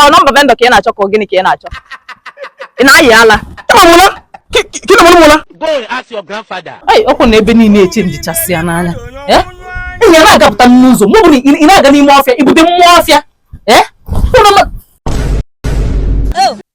ọ nọmba vendor ka ị na-achọ ka gịnị ka ị na-achọ ị na-ayi ala okwu na ebe niile eche njichasị ya n'anya enyi ya na-agapụta n'ụzọ ma ọ bụrụ ị na-aga n'ime ọfịa ibute mmụọ ọfịa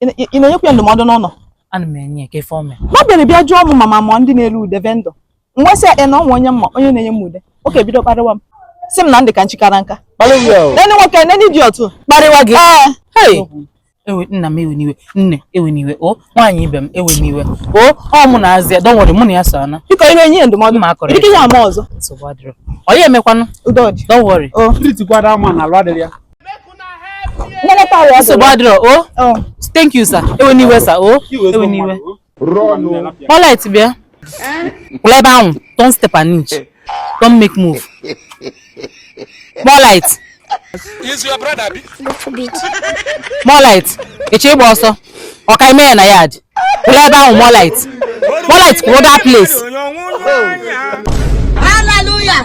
Ị na-enyekwa ya ndụmọdụ n'ụlọ? Ana m enye ya kee ife o me. Ma bịara bịa jụọ m ma m ma ndị na-ere ude vendor. M wee sị ya na o nwe onye m ma onye na-enye m ude. Ọ ka ebido kparịwa m. Sị m na m dị ka nchi kara nka. Nene nwoke nene idiot. Kparịwa gị. Ee. ewe nna m ewena iwe nne ewena iwe o nwaanyị ibe m ewena iwe o ọ mụ na azịa don't worry mụ na ya so ana biko i wee nye ndụmọdụ ma akọrọ ike ya ama ọzọ nsogbu adịrọ ọ ya emekwanụ don't worry o tritikwara ama na alụ adịrị ya nsogbu adịrọ o oh. oh. thank you sir ewena iwe sir o oh. ewena iwe polite bịa kwụlụ ebe ahụ don't step an inch don't make move polite polite eche ịgba ọsọ ọ ka i me ya na yard kwụlụ ebe ahụ polite polite kwụrụ that place hallelujah